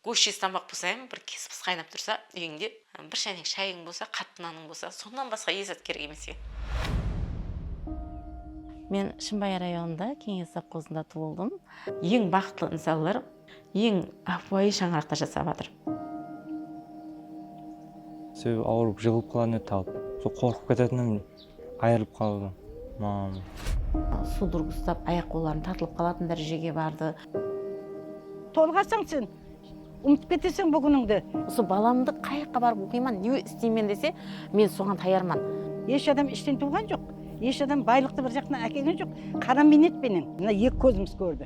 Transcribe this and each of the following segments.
Gósh jez tamaq pısayań, bir kespıs qaynap tursa úyińde, bir sháneń shayıń bolsa, qattı nanıń bolsa, sonnan basqa ezzat kerek emes eken. Men Shımbay rayonında, Keńes sovxozında tuwıldım. Eń baxıtlı insanlar eń ápiwayı shańaraqta jasap atır. Sebebi awırıp jıǵılıp qalan edi talp. Sol qorqıp ketetınım Ayırılıp qaldı maǵan. Sudruga ustap ayaq qolların tartılıp qalatın dárejege bardı. Tolǵasań sen, umıtıp keteseń bul kúnińdi. Usı balamdı qay jaqqa barıp oqıyman, ne isteymen dese, men soǵan tayarman. Esh adam ishten tuwǵan joq, esh adam baylıqtı bir jaqtan ákelgen joq, qara miynet penen mına eki kózimiz kórdi.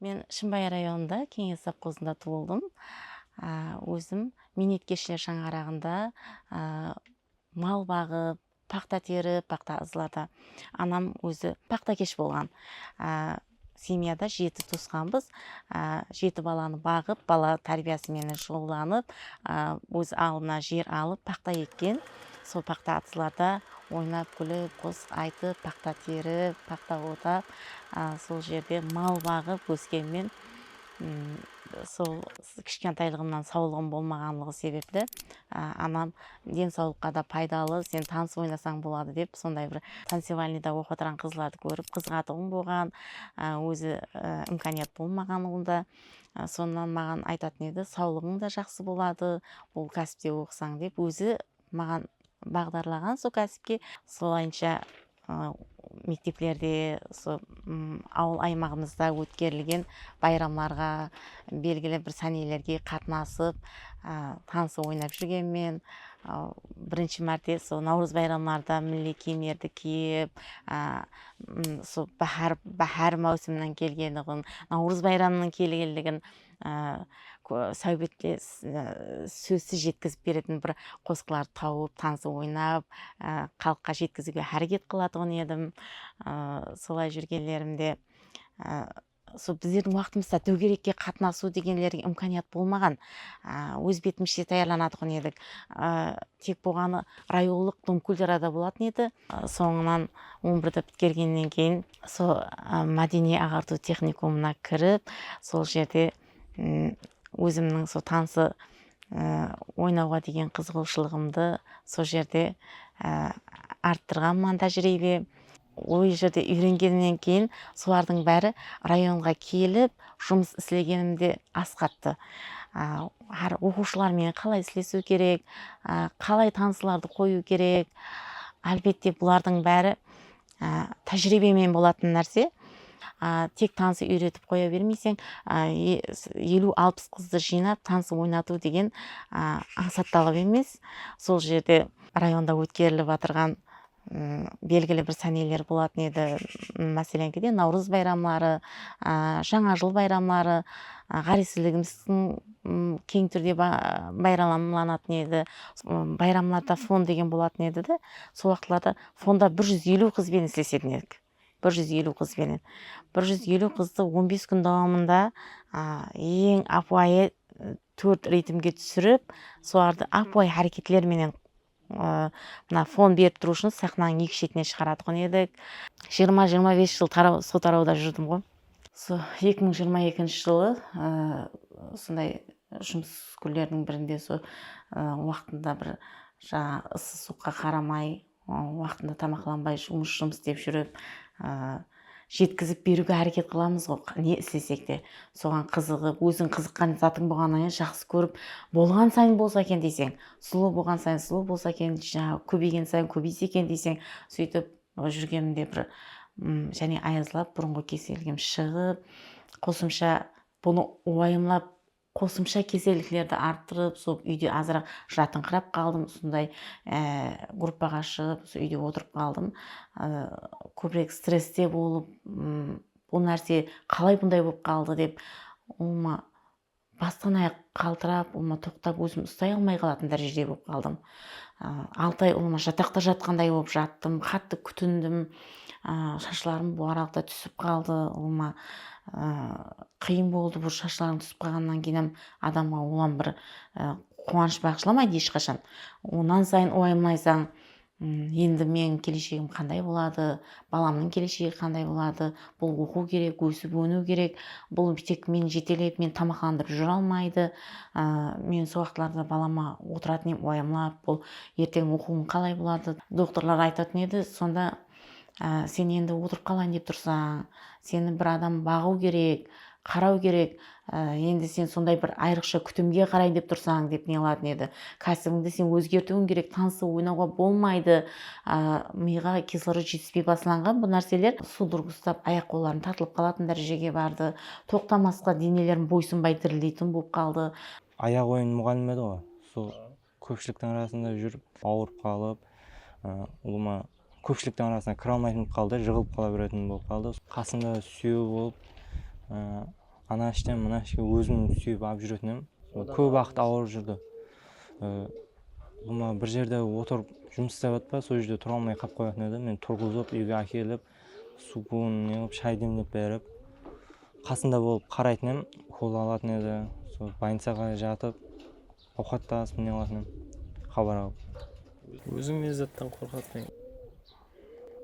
Men Shımbay rayonında Keńes sovxozında tuwıldım. Ózim miynetkeshler shańaraǵında mal baǵıp, paxta terip, paxta ızlata. Anam ózi paxtakesh bolǵan. Semyada jeti tuwısqanbız. Jeti balanı baǵıp, bala tárbiyası menen shuǵıllanıp, óz aldına jer alıp, paxta ekken. Sol paxta atızlarda Oynap-kúlip, qosıq aytıp, paxta terip, paxta otap, sol jerde mal baǵıp óskenmen. Sol kishkentaylıǵımnan sawlıǵım bolmaǵanlıǵı sebepli anam densawlıqqa da paydalı, sen tanıs oynasań boladı dep, sonday bir tancevalnıyda oqıp atırǵan qızlardı kórip qızıǵatuǵın bolǵan. Ózi imkaniyat bolmaǵan onda. Sonnan maǵan aytatın edi, sawlıǵıń da jaqsı boladı, bul kásipte oqısań dep. Ózi Maǵan baǵdarlaǵan so kásipke solayınsha mekteplerde usı awıl aymaǵımızda ótkerilgen bayramlarǵa belgili bir sánelerge qatnasıp tanısıp oynap júrgenmen. Birinshi márte usı nawrız bayramlarında milliy kiyimlerdi kiyip usı báhár máwsiminan kelgeniǵın nawrız bayramınıń kelgenligin sáwbetke sózsiz jetkizip beretin bir qosıqlar tawıp tanısıp oynap xalıqqa jetkiziwge háreket qılatuǵın edim solay júrgenlerimde sol bizlerdiń waqtımızda dógerekke qatnasıw degenlerge imkaniyat bolmaǵan óz betimizshe tayarlanatuǵın edik tek bolǵanı rayonlıq dom kulturada bolатын edi sońınan on birdi pitkergennen keyin Sol mádeniy aǵartıw texnikumına kirip, sol jerde ózimniń sol tansı oynawǵa degen qızıǵıwshılıǵımdı sol jerde arttırǵanman tájiriybe. Ol jerde úyrengenimnen keyin solardıń bári rayonǵa kelip jumıs islegenim de asqarttı. Hár oqıwshılar menen qalay islesiw kerek, qalay tanıslardı qoyıw kerek, álbette bulardıń bári Tájiriybemen bolatın nárse, tek tansı úyretip qoya bermeyseń, eliw-alpıs qızdı jıynap tansı oynatıw degen ańsat talap emes. Sol jerde rayonda ótkerilip atırǵan belgili bir sáneler bolatın edi, máselenki, Nawrız bayramları, Jańa jıl bayramları, ǵárezsizligimizdiń keń túrde bayramlanatın edi. Bayramlarda fon degen bolatın edi de, sol waqıtlarda Sonda bir júz eliw qız benen isleseden edik. Bir júz eliw qız benen. Bir júz eliw qızdı on bes kún dawamında eń ápiwayı tórt ritmge túsirip, solardı ápiwayı háreketler menen mına fon berip turıw ushın saxnanıń eki shetine shıǵaratuǵın edik. Jigirma-jigirma bes jıl taraw, sol tarawda júrdim ǵoy. Usı eki mıń jigirma ekinshi jılı usınday jumıs kúnleriniń birinde usı waqtında bir jańaǵı ısı suwıqqa qaramay waqtında tamaqlanbay jumıs jumıs dep júrip jetkizip beriwge háreket qılamızǵo ne islesek te soǵan qızıǵıp óziń qızıqqan zatıń bolǵanıńa jaqsı kórip bolǵan sayın bolsa eken deyseń sulıw bolǵan sayın sulıw bolsa eken kóbeygen sayın kóbeyse eken deyseń sóytip Oda júrgenimde bir jáne ayazlap burınǵı keselligim shıǵıp, qosımsha bunı uayımlap qosımsha keselliklerdi arttırıp sol úyde azıraq jatıńqırap qaldım, usınday gruppaǵa shıǵıp usı úyde otırıp qaldım. Kóbirek stresste bolıp bul nárse qalay bunday bolıp qaldı dep ulıwma Bastan-ayaq qaltırap, ulıma toqtap ózim ustay almay qalatuın dárejede bolıp qaldım. Altı ay ulıma jataqta jatqanday bolıp jattım, qattı kútindim. Shashlarım bul aralıqta túsip qaldı. Ulıma qıyın boldı, bul shashlarıń túsip qalǵannan keyin hám adamǵa ulam bir quwanısh baǵıshlamaydı esh qashan. Onan sayın uayımlaysań, Endi meniń keleshegim qanday boladı, balamnıń keleshegi qanday boladı, bul oqıw kerek, ósip-óniw kerek, bul tek meni jetelep, meni tamaqlandırıp júre almaydı, men sol waqıtlarda balama otıratuın edim uayamlap, bul erteń oqıwıń qalay boladı, doktorlar aytatuın edi, sonda sen endi otırıp qalayın dep tursań, seni bir adam baǵıw kerek, qaraw kerek, Endi sen sonday bir ayrıqsha kútimge qarayın dep tursań, dep neladın edi. Kásibińdi sen ózgertiwiń kerek, tansıw, oynawǵa bolmaydı. Miyǵa kislorod jetispey baslanǵan bul nárseler sudorog ustap, ayaq-qolların tartılıp qalatın dárejege bardı. Toqtamasqa denelerin boysınbay dirildeytuǵın bolıp qaldı. Ayaq oyun muǵallim edi ǵo, sol. Kópshiliktiń arasında júrip awırıp qalıp, ulıwma kópshiliktiń arasına kira almaytın bolıp qaldı, jıǵılıp qala beretuǵın bolıp qaldı. Qasında súyewi bolıp, ana ishten mına ishke ózim súyip alıp júretinem. Kóp waqıt awırıp júrdi. Ulıwma bir jerde otırıp jumıs islep atırpa, sol jerde tura almay qalıp qoyatın edi. Meni turǵızıp, úyge ákelip, suwın ne qılıp, shay demlep berip, qasında bolıp qaraytın edim, ukola alatın edi. Sol bolnicaǵa jatıp. Awqat ta asıp mine alasınan xabar alıp. Óziń ne zattan qorqasıń?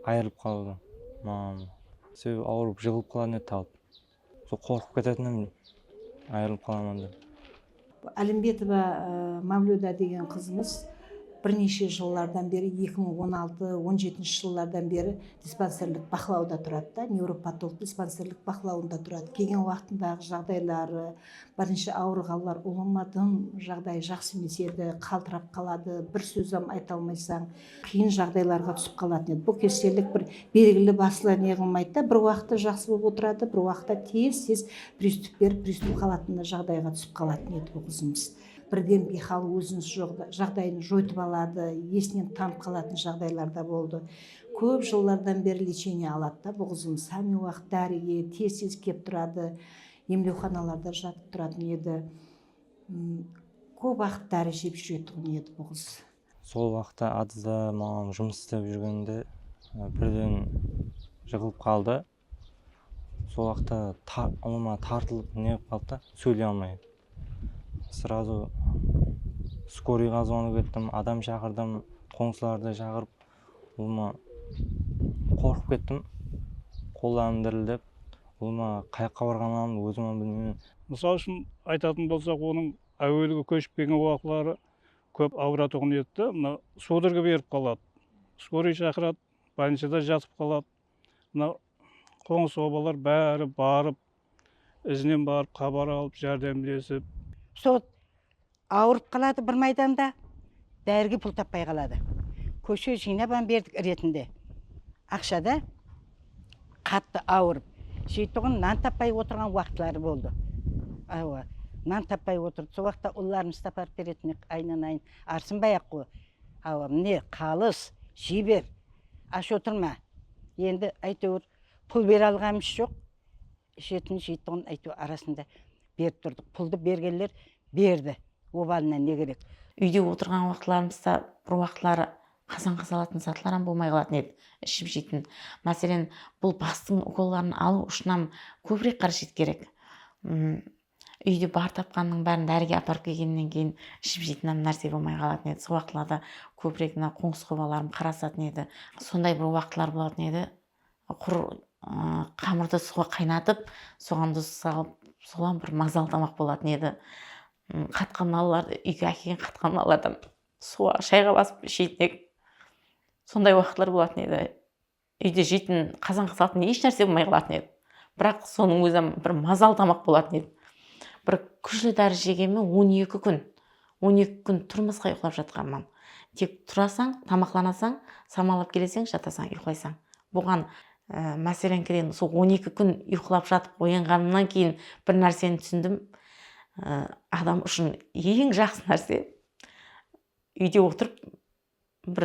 Ayırılıp qalıwdan maǵan. Sebebi awırıp jıǵılıp qalatın edi talıp. Sol qorqıp ketetindim ayırılıp qalaman dep. Alimbetova Mavlyuda degen qızımız bir neshe jıllardan beri eki mıń on altı on jetinshi jıllardan beri dispanserlik baqlawda turadı da, nevropatolog dispanserlik baqlawında turadı. Kelgen waqtındaǵı jaǵdayları, Birinshi awırǵanlar ulıwma dım jaǵdayı jaqsı emes edi, qaltırap qaladı, bir sózam ayta almaysań, qıyın jaǵdaylarǵa túsip qalatın edi. Bul kesellik bir belgili baslı ne qılmaydı da, bir waqıtta jaqsı bolıp otıradı, bir waqıtta tez-tez pristup berip, pristup qalatınday jaǵdayǵa túsip qalatın edi bul qızımız. Birden biyxal óziniz joq jaǵdayın joytıp aladı, esinen tanıp qalatın jaǵdaylar da boldı. Kóp jıllardan beri lechenie aladı da bul qızımız, hámme waqıt dárige tez-tez kelip turadı. Emlewxanalarda jatıp turatuǵın edi. Kóp waqıt dári jep júretuǵın edi bul qız. Sol waqıtta Adızda maǵan jumıs islep júrgenimde birden jıǵılıp qaldı. Sol waqıtta ulıma tartılıp neǵip qaldı da, sóyley almay. Srazu skoriǵa zvonik ettim, adam shaqırdım, qońsılardı shaqırıp ulıma qorqıp kettim qollarım dirildep ulıma qayaqqa barǵanlarımdı ózimam bilmeymen. Mısal ushın aytatuın bolsaq onıń áuelgi kóship kelgen uaqıtları kóp auıratuǵın edi de mına sudorga berip qaladı skoriy shaqıradı bolnicada jatıp qaladı mına qońsı obalar bári barıp izinen barıp xabar alıp járdemlesip. Sol awırıp qaladı bir maydanda dárige pul tappay qaladı kóshe jıynap am berdik iretinde aqshada qattı awırıp jeytuǵın nan tappay otırǵan waqıtları boldı awa nan tappay otırdı sol waqıtta ullarımızdı aparıp beretuın edik aynan ayın arsınbay aq qo. Hawa, mine, qalıs, jey ber, ash otırma. Endi, áyteuir, pul bere alǵanımız joq, ishetin, jeytuǵın áyteuir arasında berip turdıq. Puldı bergenler berdi, obalına ne kerek. Úyde otırǵan waqıtlarımızda bir waqıtları qazanǵa salatın zatlaram bolmay qalatın edi, iship-jeytin. Máselen, bul bastıń ukolların alıw ushınam kóbirek qárejet kerek. Úyde bar tapqanınıń bárin dárige aparıp kelgennen keyin iship jeytin hám nárse bolmay qalatın edi. Sol waqıtlarda kóbirek mına qońsı qobalarım qarasatın edi. Sonday bir waqıtlar bolatın edi, qur qamırdı suwǵa qaynatıp, soǵan duz salıp, solan bir mazalı tamaq bolatın edi. Qatqan nallardı, úyge ákelgen qatqan nallardan suwǵa, shayǵa basıp isheytnek. Sonday waqıtlar bolatın edi. Úyde jeytin qazanǵa salatuın esh nárse bolmay qalatın edi. Biraq sonıń ózi-ám bir mazalı tamaq bolatın edi. Bir kúshli dári jegeme on eki kún, on eki kún turmasqa uyqılap jatqanman. Tek turasań, tamaqlanasań, samalap keleseń, jatasań, uyqılaysań. Buǵan máseleńkireyin usı on eki kún uyqılap jatıp oyanǵanımnan keyin bir nárseni túsindim, adam ushın eń jaqsı nárse úyde otırıp bir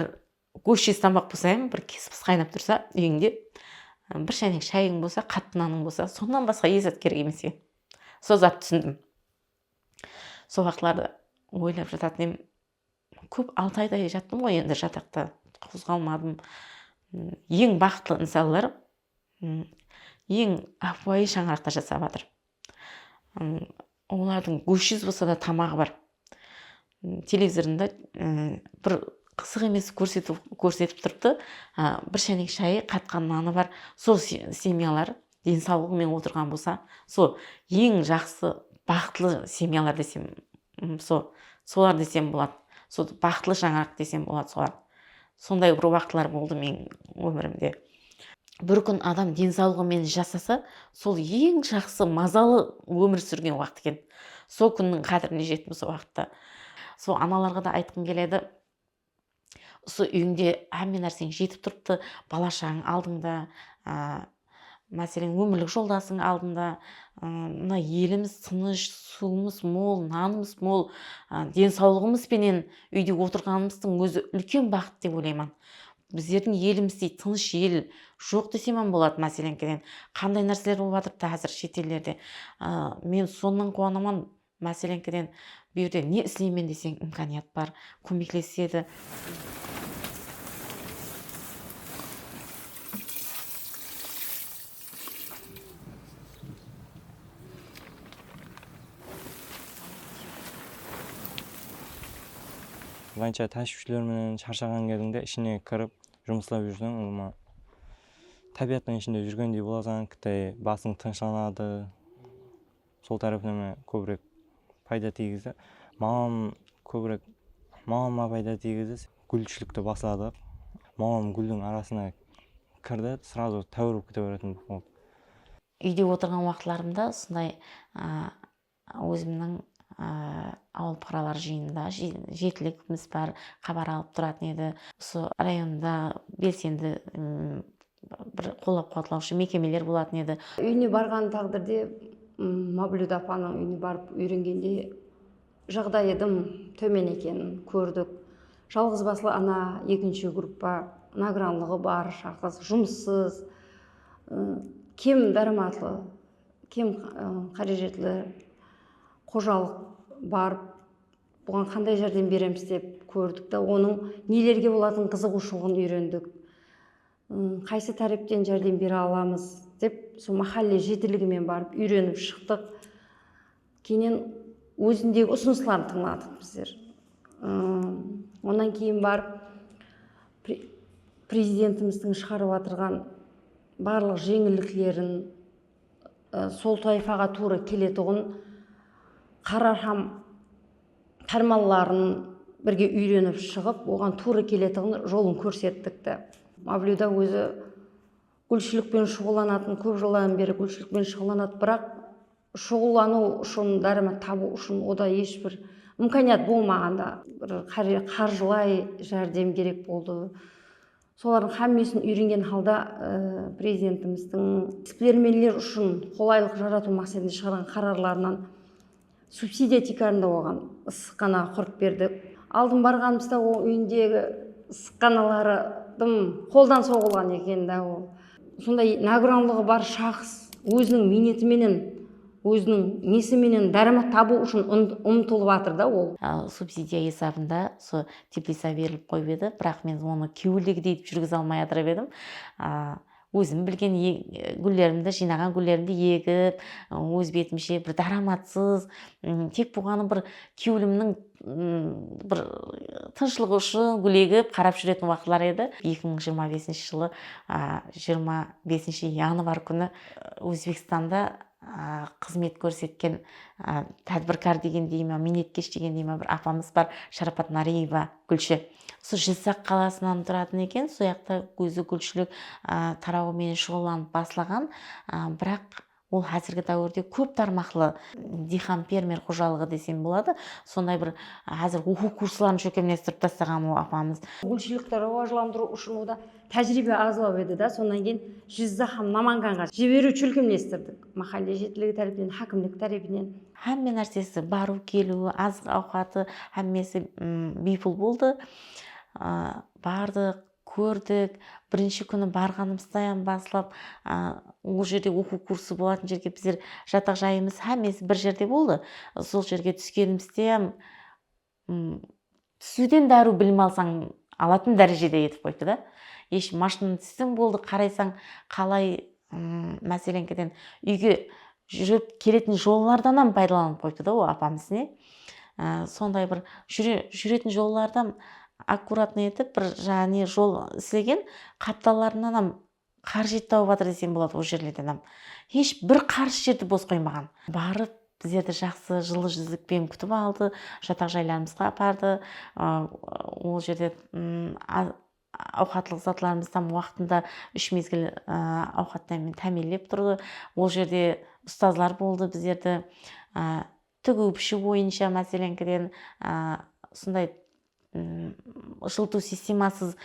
Gósh jeztambaq bolsa em bir kespis qaynap tursa úyińde bir shaynek shayıń bolsa qattı nanıń bolsa sonnan basqa es zat kerek emes eken sol zattı túsindim sol uaqıtlarda oylap jatatan em kóp altı ayday jattım ǵoy endi jataqta qozǵalmadım eń baxıtlı insanlar eń ápiwayı shańaraqta jasap atır Olardıń góshsiz bolsa da tamaǵı bar. Televizorında bir qısıq emes kórsetip turıptı, bir shaynek shayı, qatqa nanı bar. Sol semyalar densawlıǵıńmen otırǵan bolsa, sol eń jaqsı baxıtlı semyalar desem So, solar desem boladı. Sol baxıtlı shańaraq desem boladı solar. Sonday bir waqıtlar boldı meniń ómirimde. Bir kún adam densawlıǵı menen jasasa, sol eń jaqsı, mazalı ómir súrgen waqıt eken. Sol kúnniń qádirine jettim sol waqıtta. Sol analarǵa da aytqım keledi. usı úyińde hámme nárseń jetip turıptı, bala-shaǵań aldıńda, máselen, ómirlik joldasıń aldıńda, mına elimiz tınısh, suwımız mol, nanımız mol, densawlıǵımız penen úyde otırǵanımızdıń ózi úlken baxıt dep oylayman. Bizlerdiń elimizdey tınısh el joq desem-ám boladı. Máseleńkeden, qanday nárseler bolıp atırıptı házir shet ellerde. Men sonnan quwanaman, Máselenkiden, bu jerde ne isleymen deseń imkaniyat bar, kómeklesedi. Vaynsha táshiwshiler menen sharshaǵan gezińde ishine kirip jumıslap júrseń umuman tábiyattıń ishinde júrgendey bolasań, kittay basıń tınıshlanadı. Sol tárepnama kóbirek payda tiygizdi. Maǵan kóbirek maǵanma payda tiygizdi. Gúlshilikti basladıq. Maǵan gúldiń arasına kirdi, srazu táwir bolıp kete beretuǵın bolıp qaldı. Úyde otırǵan waqıtlarımda usınday ózimniń awıl puqaralar jıyınında jetilligimiz bár, xabar alıp turatın edi. Usı rayonda belsendi bir qollap-quwatlawshı mekemeler bolatın edi. Úyine barǵan táǵdirde Mavlúda apanıń úyine barıp úyrengende jaǵdayı dım tómen ekenin kórdik. Jalǵız baslı ana, ekinshi gruppa, nagranlıǵı bar shaxs, jumıssız, kem dáramatlı, kem qárejetli xojalıq bar. Buǵan qanday járdem beremiz dep kórdik de, onıń nelerge bolatuǵın qızıǵıwshılıǵın úyrendik. Qaysı tárepten járdem bere alamız dep sol máhálle jetiligi menen barıp úyrenip shıqtıq. Keyinen ózindegi usınısların tıńladıq bizler. Onnan keyin barıp Prezidentimizdiń shıǵarıp atırǵan barlıq jeńilliklerin, sol toifaǵa tuwrı keletuǵın qarar hám pármanların birge úyrenip shıǵıp, oǵan tuwrı keletuǵın jolın kórsettikti. Mavlyuda ózi gúlshilik penen shuǵıllanatın, kóp jıllardan beri gúlshilik penen shuǵıllanatın, biraq shuǵıllanıw ushın, dáramat tabıw ushın oda hesh bir imkaniyat bolmaǵanda, bir qarjılay járdem kerek boldı. Solardıń xámmesin úyrengen halda Prezidentimizdiń isbilermenler ushın qolaylıq jaratıw maqsetinde shıǵarǵan qararlarınan subsidiya tiykarında oǵan ıssıqxanaǵa qurıp berdik. Aldın barǵanımızda oǵan úyindegi ıssıqxanaları dım qoldan soǵılǵan eken dá ol. Sonday nágranlıǵı bar shaxs óziniń miyneti menen, óziniń nesi menen dáramat tabıw ushın umtılıp atır da ol. Subsidiya esabında usı teplisa berilip qoyıp edi, biraq men onı kewildigidey etip júrgize almay atırıp edim. Ózim bilgen gúllerimdi, jıynaǵan gúllerimdi egip, óz betimshe bir dáramatsız, tek buǵanı bir kewilimniń bir tınıshlıq ushın gúlegip qarap júretin waqıtlar edi eki mıń jırma besinshi jılı jırma besinshi yanvar kúni ózbekstanda xızmet kórsetken tádbirkar degen dei ma miynetkesh degen dei ma bir apamız bar sharapat nareeva gúlshi usı jızaq qalasınan turatın eken soyaqta ózi gúlshilik tarauı menen shuǵıllanıp baslaǵan biraq Ol házirgi dáwirde kóp tarmaqlı diyxan-fermer xojalıǵı desem boladı. Sonday bir házir oqıw kursların shólkemlestirip tastaǵan ol apamız. Gúlshiliqti rawajlandırıw ushın oda tájiriybe azlaw edi dá, sonnan keyin Jizzax hám Namanganǵa jiberiw shólkemlestirdik. Máhálle jetiligi tárepinen, hákimlik tárepinen. Hámme nársesi, barıw-keliwi, azıq-awqatı, hámmesi biypul boldı. Bardıq. Kórdik. Birinshi kúni barǵanımızdayan baslap ol jerde oqıw kursı bolatın jerge bizler jataq jayımız hámmesi bir jerde boldı. Sol jerge túskenimizdeyam túsiwden dáriw bilim alsań alatın dárejede etip qoyıptı da. Esh mashinanı tússeń boldı qaraysań qalay Máseleńkeden úyge júrip keletin jollardan ham paydalanıp qoyıptı da ol apamız ne sonday bir júretin jollardan akkuratno etip bir jaǵı ne jol islegen qaptallarınan ham qarıs jet tawıp atır desem boladı ol jerlerden ham hesh bir qarıs jerdi bos qoymaǵan barıp bizlerdi jaqsı jıllı júzlikpen kútip aldı jataq jaylarımızǵa apardı ol jerde Awqatlıq zatlarımızdı tam waqtında úsh mezgil awqatlarmen támiyinlep turdı. Ol jerde ustazlar boldı bizlerdi tigıw-pishiw boyınsha máselenkiden usınday jılıtıw sistemasız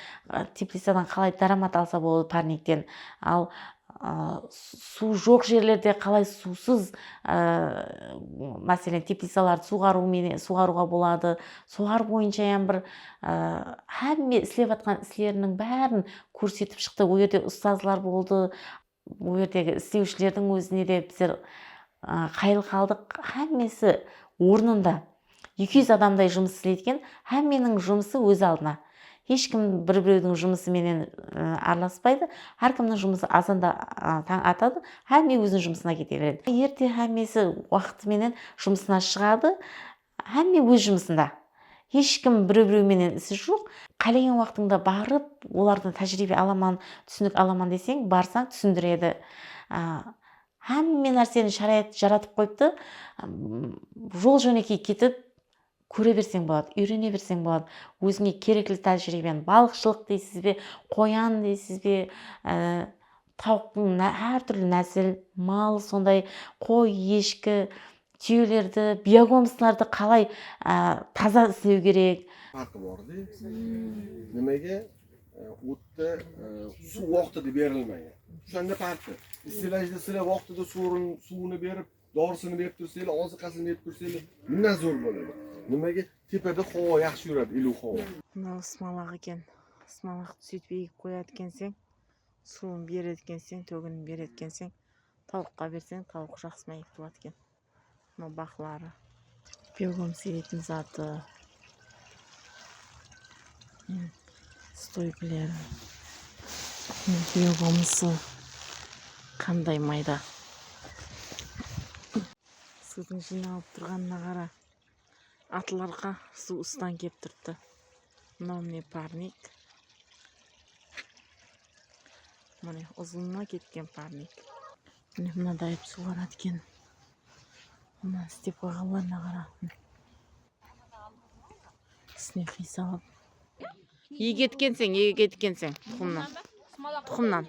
teplicadan qalay dáramat alsa boladı párnekten al suw joq jerlerde qalay suwsız máselen teplicalardı suwǵarıwǵa boladı Solar boyınshayam bir hámme islep atqan isleriniń bárin kórsetip shıqtı. Ol jerde ustazlar boldı, ol jerdegi islewshilerdiń ózine de bizler qayıl qaldıq. Hámmesi ornında. Eki júz adamday jumıs isleydi eken. Hámmeniń jumısı óz aldına. Hesh kim bir-birewdiń jumısı menen aralaspaydı. Hár kimniń jumısı azanda tań atadı, hámme óziniń jumısına kete beredi. Erte hámmesi waqıtı menen jumısına shıǵadı. Hámme óz jumısında. Hesh kim bireu-bireu menen isi joq. Qálegen waqtıńda barıp, olardan tájiriybe alaman, túsinik alaman deseń, barsań, túsindiredi. Hámme nárseni sharayat jaratıp qoyıptı. Jol-jónekey ketip, kóre berseń boladı, úyrene berseń boladı. Ózińe kerekli tájiriybeni, balıqshılıq deysizbe, qoyan deysizbe, Tawıqtıń hár túrli násil, mal, sonday qoy, eshki, túyelerdi, biyogomslardı qalay taza islew kerek? Farqı bor de, nimege uttı suw oqtı de berilmay? Ushınan ne farqı? Istilajdı islep oqtı da suwrın, suwını berip, dorısını berip turseli, ozıqasın berip turseli mına zur boladı. Nimege tepede xowa yaqshı yuradı ili xowa. Mınau ısmalaq eken. Ismalaqtı suytip egip qoyadı ekenseń. Suwın beredi ekenseń, tóginin beredi ekenseń, tawıqqa berseń tawıq jaqsı máyek boladı eken. Mınau baqları. Begom siyretin zatı stoykileri begomısı qanday mayda. Sudın jıynalıp turǵanına qara. Atlarǵa suw ustan kep turıptı. Mınau mine parnik. Mine uzınına ketken parnik. Mine mınadayıp suwaradı eken. Mına istep qoyǵanlarına qara. Tisine qiy salıp. Iyge etkenseń, iyge etkenseń tuxımnan. Tuxımnan.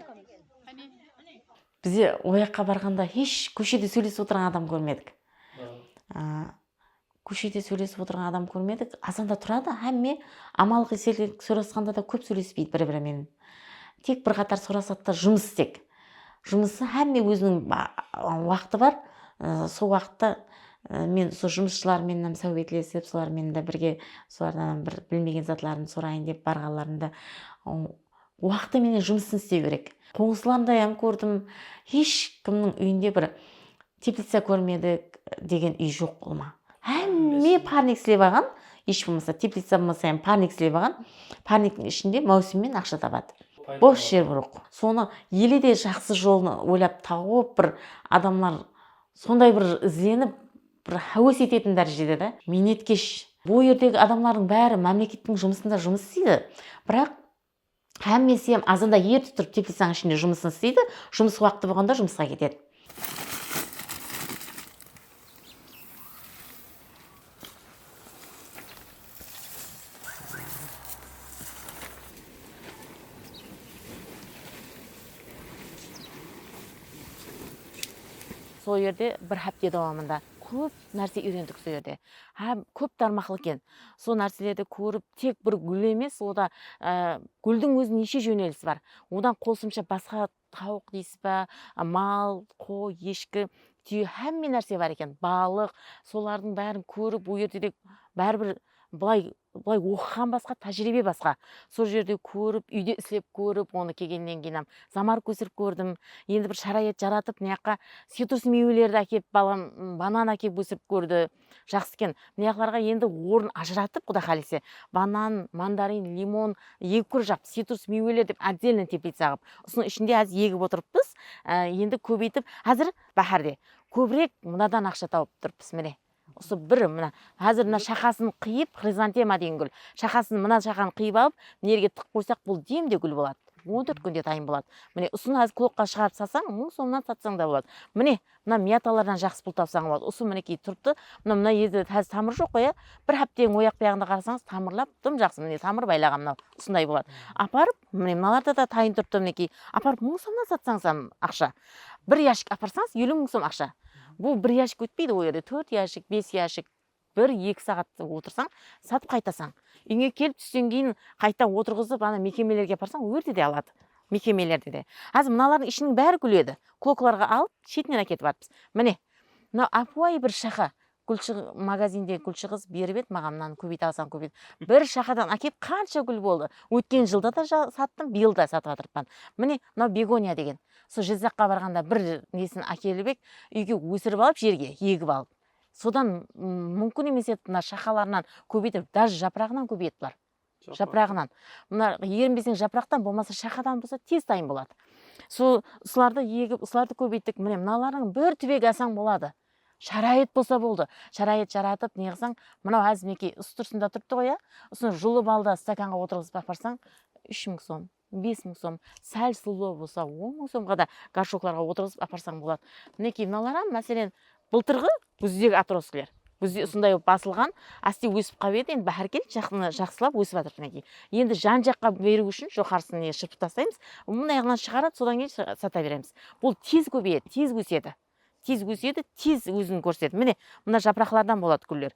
Bize oyaqqa barǵanda hesh kóshede sóylesip otırǵan adam kórmedik. Kóshede sóylesip otırǵan adam kórmedik. Azanda turadı, hámme amalǵi sergek sorasqanda da kóp sóylespeydi bir-biri menen. Tek bir qatar sorasadı da jumıs tek. Jumısı hámme óziniń waqtı bar, sol waqıtta men usı jumısshılar menenam sáwbetlesip, solar menen de birge solardanam bir bilmegen zatlarımdı sorayın dep barǵanlarında, Waqtı menen jumısın isteu kerek. Qońsılarımday ham kórdim, hesh kimniń úyinde bir teplitsa kórmedik degen úy joq bolma. Hámme parnik islep alǵan, hesh bolmasa teplitsa bolmasa ham parnik islep alǵan, parniktiń ishinde máwsimmen aqsha tabadı. Bos jer broq. Sonı ele de jaqsı jolın oylap tawıp bir adamlar sonday bir izlenip. Bir háwes etetin dárejede de miynetkesh. Bul jerdegi adamlardıń bári mámlekettiń jumısında jumıs isteydi. Biraq hámmesi hem azanda erte turıp teplitsańıń ishinde jumısın isteydi, jumıs waqıtı bolǵanda jumısqa ketedi. Sol jerde bir hápte dawamında kóp nárse úyrendik sol jerde hám kóp tarmaqlı eken sol nárselerdi kórip tek bir gúl emes oda gúldiń ózi neshe jónelisi bar odan qosımsha basqa Tawıq deysiz ba, mal, qoy, eshki, túye hámme nárse bar eken, balıq, solardıń bárin kórip o jerde de báribir bılay bılay oqıǵan basqa tájiriybe basqa sol jerde kórip úyde islep kórip onı kelgennen keyinam zamarıp kósirip kórdim endi bir sharayat jaratıp mıyaqqa citrus miywelerdi ákep balam banan ákep ósirip kórdi Jaqsı eken. Mıyaqlarǵa endi orın ajıratıp quda xalese banan, mandarin, limon, egi kurjaq, sitrus miyweler dep otdelno teplitsa ǵıp usınıń ishinde xázir egip otırıppız. Endi kóbeytip xázir báhárde kóbirek mınadan aqsha tawıp turıppız mine. Usı bir mına xázir mına shaqasın qıyıp xrizantema degen gúl shaqasın mına shaqanı qıyıp alıp mına jerge tıqıp qoysaq bul demde gúl boladı. On tórt kúnde dayın boladı. Mine usını xázir klokka shıǵarıp satsań mıń somnan satsań da boladı. Mine Mına miyatalardan jaqsı pul tapsań boladı usı minekey turıptı mına mına yerde házir tamır joq qoy a bir hápteniń oyaq buyaǵında qarasańız tamırlap dım jaqsı mine tamır baylaǵan mınau usınday boladı aparıp mine mınalarda da tayın turıptı minekey aparıp mıń somnan satsańız ham aqsha bir yashik aparsańız eliw mıń som aqsha bul bir yashik ótpeydi ol yerde tórt yashik bes yashik Bir eki saǵat otırsań satıp qaytasań uyińe kelip tústen keyin qayta otırǵızıp ana mekemelerge aparsań ol jerde de aladı mekemelerde de xázir mınalardıń ishiniń bári gúledi koklarǵa alıp shetinen aketip atırmız mine mına ápiwayı bir shaxa magazinde gúlshi qız berip edi maǵan mınanı kóbeyte alsań kóbeyte alsań bir shaxadan akep qansha gúl boldı ótken jılda da sattım bıyıl da satıp atırıpan mine mınau begoniya degen sol jizzaqqa barǵanda bir nesin ákelip edi uyge ósirip alıp jerge egip alıp Sodan mumkin emes edi mına shaqalarınan kóbeytirip daj japıraǵınan kóbeyetilar. Japıraǵınan. Mına erinbeseń japıraqtan bolmasa shaqadan bolsa tez tayın boladı. Sol usılardı egip usılardı kóbeyttik. Mine mınalardıń bir túbegi alsań boladı. Sharayet bolsa boldı. Sharayet jaratıp neǵısań mınau házir minekey usı túrsında turıptı ǵoy a usını julıp al da stakanǵa otırǵızıp aparsań úsh mıń som. Bes mıń som, sál sılbı bolsa on mıń somǵa da gorshoklarǵa otırǵızıp aparsań boladı. Minekey mınalaram máselen bıltırǵı gúzdegi otroskiler. Gúzde usınday bolıp basılǵan, áste ósip qap edi, endi báhár kelip jaqsına jaqsılap ósip atır minekey. Endi jan jaqqa beriw ushın joqarısın ne shırpıp taslaymız, bunday ǵınan shıǵaradı, sodan keyin sata beremiz. Bul tez kóbeyedi, tez ósedi. tez ósedi tez ózin kórsetedi mine mına japıraqlardan boladı gúller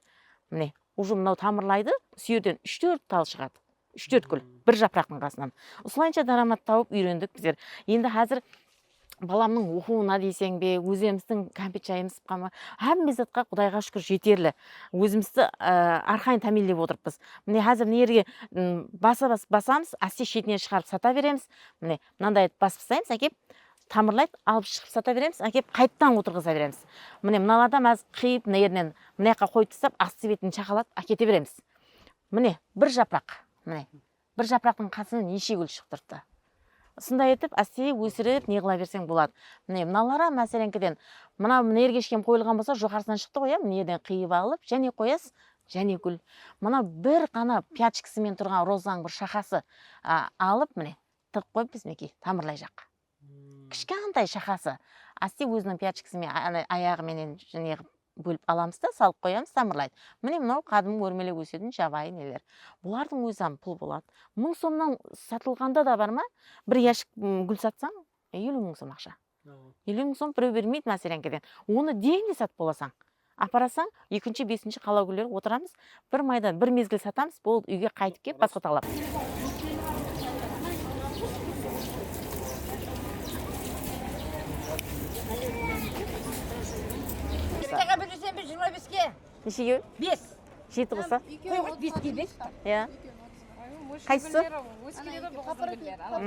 mine uje mınau tamırlaydı usı erden úsh tórt tal shıǵadı úsh tórt gúl bir japıraqtıń qasınan usılayınsha dáramat tauıp uyrendik bizler endi xázir balamnıń oqıuına deyseń be ózemizdiń kámpet jayımız shıqqan ba hámme zatqa qudayǵa shúkir jeterli ózimizdi arqayın támiyinlep otırıppız mine xázir mına erge basa bas basamız áste shetine shıǵarıp sata beremiz mine Mınanday etip basıp taslaymiz ákep tamırlaydı alıp shıǵıp sata beremiz ákep qaytadan otırǵıza beremiz mine mınalardan bazı qıyıp mına yerinen mınayaqqa qoyıp tastap astı betin shaqalap ákete beremiz mine bir japıraq mine bir japıraqtıń qasında neshe gúl shıǵıp turıptı usınday etip áste ósirip neǵıla berseń boladı mine mınalaram máseleńkiden mına mına yerge eshekem qoyılǵan bolsa joqarısınan shıqtı ǵoy mına erden qıyıp alıp jáne qoyasız jáne gúl mına bir ǵana pyachkasımen turǵan rozańıń bir shaqası alıp mine Tırıp qoyıp bizmeki tamırlay jaq kishkantay shaqası asti óziniń pyachkisi menen ana ayaǵı menen neǵıp bólip alamız da salıp qoyamız tamırlaydı mine mınau qadımǵı órmelep ósetiń jabayı neler bulardıń ózizam pul boladı mıń somnan satılǵanda da barma bir yashik gúl satsań eliw mıń som aqsha Elewin sum bireu bermeydi másereńkeden onı degende satıp bolasań aparasań ekinshi besinshi qala gúlleri otıramız bir maydan bir mezgil satamız boldı uyge qaytıp kep basqa taǵlap Neshe ekeui? Bes. Jeti bolsa? Qonǵırt beske bes pa? Ia. Qaysısı? Ózi keledi ǵoy bul qızdıń gúlleri. Ana bul.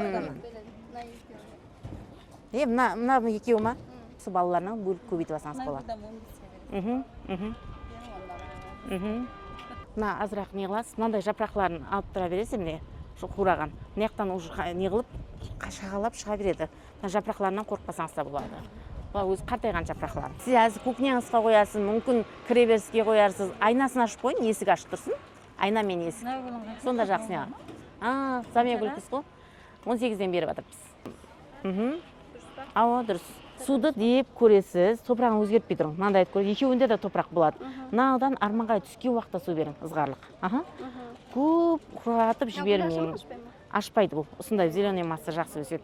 Mına ekeui. E mına mına ekeui ma? Usı balalarınan bólip kóbeytip alsańız boladı. Mhim mhim. Mhim. Mına azıraq neǵılasız mınanday japıraqların alıp tura beresiz emine usı quwraǵan. Mınayaqtan uje neǵılıp shaǵalap shıǵa beredi. Mına japıraqlarınan qorıqpasańız da boladı. Bular ózi qartayǵan japıraqlar. Siz házir kúknyańızǵa qoyarsız, múmkin kireberiske qoyarsız. Aynasın ashıp qoyıń, esik ashıp tursın. Ayna menen esik. Sonda jaqsı maǵan. Ha, zamya gúlkis ǵo. On segizden berip atırpız. Mhim. Awa, durıs. Suwdı dep kóresiz, topıraǵın ózgertpey turıń. Mınanday etip kóresiz, ekewinde de topıraq boladı. Mınanıdan armanǵay túsken waqıtta suw beriń, ızǵarlıq. Aha. Kóp qurǵatıp jibermeń. Ashpaydı bul. Usınday zeleniy massa jaqsı ósedi.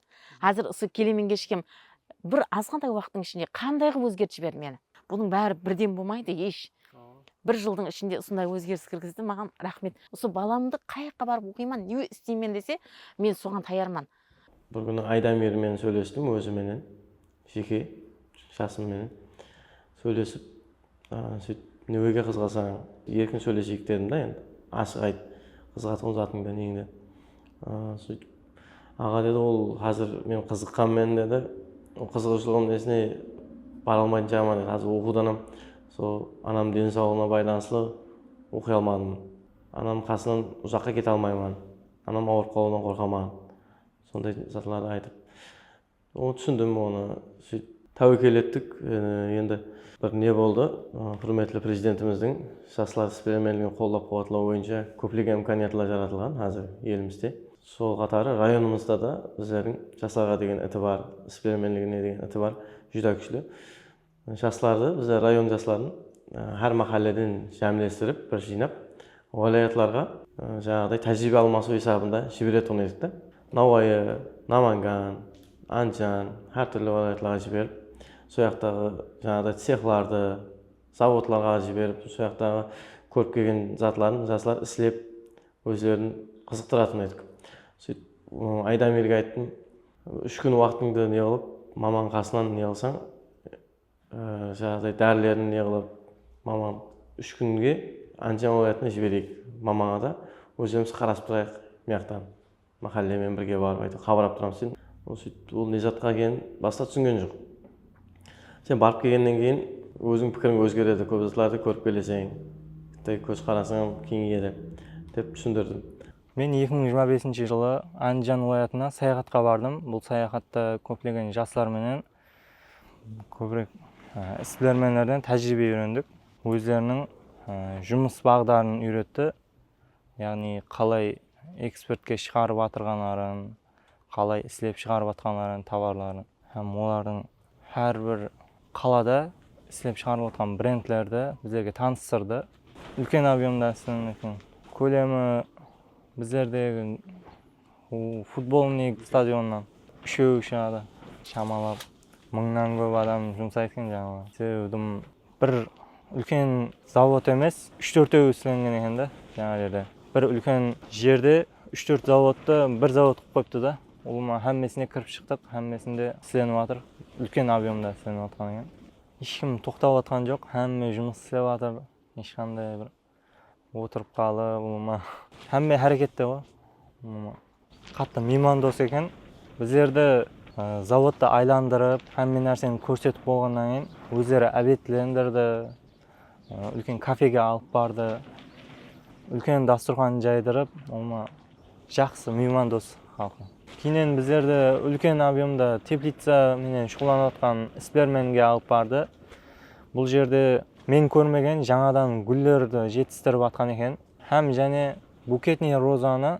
Házir usı kelemenge ishem bir azǵantay waqıttıń ishinde qanday qılıp ózgertip jiberdi meni. Bunıń bári birden bolmaydı esh. Bir jıldıń ishinde usınday ózgeris kirgizdi maǵan raxmet. Usı balamdı qay jaqqa barıp oqıyman, ne isteymen dese, men soǵan tayarman. Bir kúni Aydamir menen sóylestim ózi menen. Jeke jasım menen sóylesip sóytip neweger qızǵasań erkin sóyleseyik dedim da endi ashıq ayt qızǵatuǵın zatıńdı neń dep sóytip aǵa dedi ol xázir men qızıqqanmen dedi ol qızıǵıwshılıǵım nesine bara almaytın shıǵarman dedi xázir oqıwdanam sol anamnıń deni sawlıǵına baylanıslı oqıy almadım anamnıń qasınan uzaqqa kete almayman anam awırıp qalıwdan qorqaman sonday zatlardı aytıp Onı túsindim onı sóyt táwekel ettik endi bir ne boldı húrmetli prezidentimizdiń jaslar isbilermenligin qollap quwatlaw boyınsha kóplegen imkaniyatlar jaratılǵan házir elimizde sol qatarı rayonımızda da bizlerdiń jaslarǵa degen itibar isbilermenligine degen itibar júdá kúshli Jaslardı bizler rayon jasların hár máhálleden jámlestirip bir jıynap wálayatlarǵa janaǵıday tájiriybe almasıw esabında jiberetuǵın edik ta. Nawayı, Namangan, Andijan hár túrli wálayatlarǵa jiberip soyaqtaǵı janaǵıday tsexlardı, zavodlarǵa jiberip soyaqtaǵı kórip kelgen zatların jaslar islep ózlerin qızıqtıratuǵın edik. Sóytip Aydamirge ayttım. Úsh kún waqtıńdı ne qılıp maman qasınan ne qılsań janaǵıday dárilerin ne qılıp maman úsh kúnge Andijan wálayatına jibereyik mamańa da ózlerimiz qarasıp turayıq mıyaqtan máxállemen birge barıp áyteu qabırap turamız dedim. Ol sóytip ol ne zatqa ekenin basında túsingen joq. Sen barıp kelgennen keyin ózińniń pikiriń ózgeredi kóp zatlardı kórip keleseń. Bitta kóz qarasıń ham keńeyedi dep túsindirdim. Men eki mıń jigirma besinshi jılı Ándijan wılayatına sayaxatqa bardım. Bul sayaxatta kóplegen jaslar menen, kóbirek isbilermenlerden tájiriybe úyrendik. Ózleriniń jumıs baǵdarın úyretti, yaǵnıy qalay eksportke shıǵarıp atırǵanların, qalay islep shıǵarıp atqanların, tovarların hám olardıń hár bir qalada islep shıǵarılıp atqan brendlerdi bizlerge tanıstırdı. Úlken ob'yomda islenbekten kólemi bizlerdegi futbolnıy stadionnan úsheui shıǵadı. Shamalap mıńnan kóp adam jumsaydı eken, sebebi dım. Bir úlken zavod emes úsh tórteui islengen eken da jańa jerde bir úlken jerde úsh tórt zavodtı bir zavod qılıp qoyıptı da ulıwma hámmesine kirip shıqtıq hámmesinde islenip atır úlken ob'emda islenip atqan eken esh kim toqtap atqan joq hámme jumıs islep atır esh qanday bir Otırıp qalıp ulıwma. Hámme hárekette ǵoy ulıwma. Qattı miymandos eken. Bizlerdi zavodta aylandırıp, hámme nárseni kórsetip bolǵannan keyin ózleri ábetlendirdi. Úlken kafege alıp bardı. Úlken dasturxan jaydırıp ulıwma. Jaqsı, miyman dos xalqım. Keyinen bizlerdi úlken ob'yomda teplitsa menen shuǵıllanatqan isbilermenge alıp bardı. Bul jerde men kórmegen jańadan gúllerdi jetistirip atqan eken hám jáne buketniy rozanı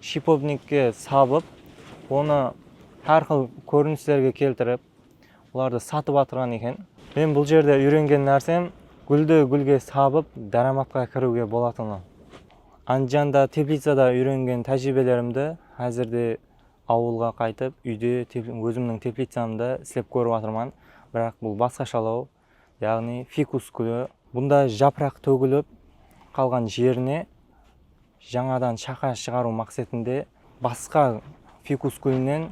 shipobnikke sabıp, onı hár xil kórinislerge keltirip, olardı satıp atırǵan eken. Men bul jerde úyrengen nársem gúldi gúlge sabıp dáramatqa kiriwge bolatını. Andijanda, Teplicada úyrengen tájiriybelerımdi házirde awılǵa qaytıp, úyde ózimniń teplicamda islep kórip atırman. Biraq bul basqashalaw, yaǵnıy fikus gúli. Bunda japıraq tógilip qalǵan jerine jańadan shaqa shıǵarıw maqsetinde basqa fikus gúlinen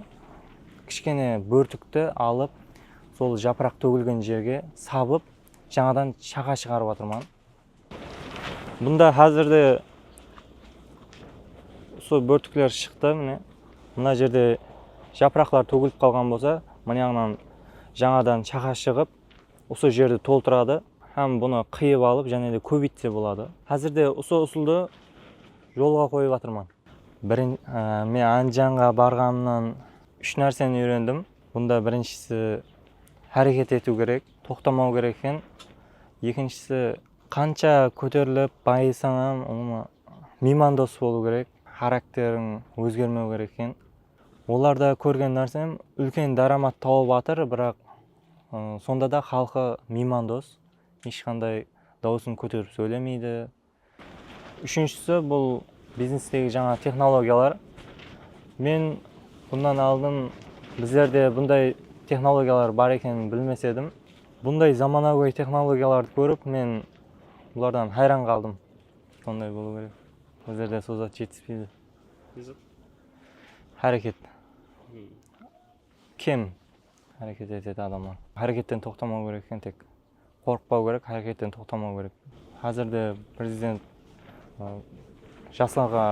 kishkene bórtikti alıp, sol japıraq tógilgen jerge sabıp, jańadan shaqa shıǵarıp atırman. Bunda házirde usı bórtikler shıqtı mine mına jerde japıraqlar tógilip qalǵan bolsa mıniyaǵınan jańadan shaxa shıǵıp usı jerdi toltıradı hám bunı qıyıp alıp jáne de kóbeytse boladı házirde usı usıldı jolǵa qoyıp atırman. Men andijanǵa barǵanımnan úsh nárseni úyrendim bunda birinshisi háreket etiw kerek Toqtamau kerek eken ekinshisi. Qansha kóterilip bayısań hám umuman miymandos bolıu kerek xarakteriń ózgermeu kerek eken olarda kórgen nársem úlken dáramat tauıp atır biraq sonda da xalqı miymandos esh qanday dauısın kóterip sóylemeydi Úshinshisi bul biznestegi jańa texnologiyalar. Men bunnan aldın bizlerde bunday texnologiyalar bar ekenin bilmes edim. Bunday zamanagóy texnologiyalardı kórip men bulardan hayran qaldım. Sonday bolıw kerek. Bizlerde sol zat jetispeydi. Ne zat? Háreket. Kem háreket etedi adamlar. Háreketten toqtamaw kerek eken tek. qorqıpau kerek haqıyqetten toqtamau kerek xazirde prezident jaslarǵa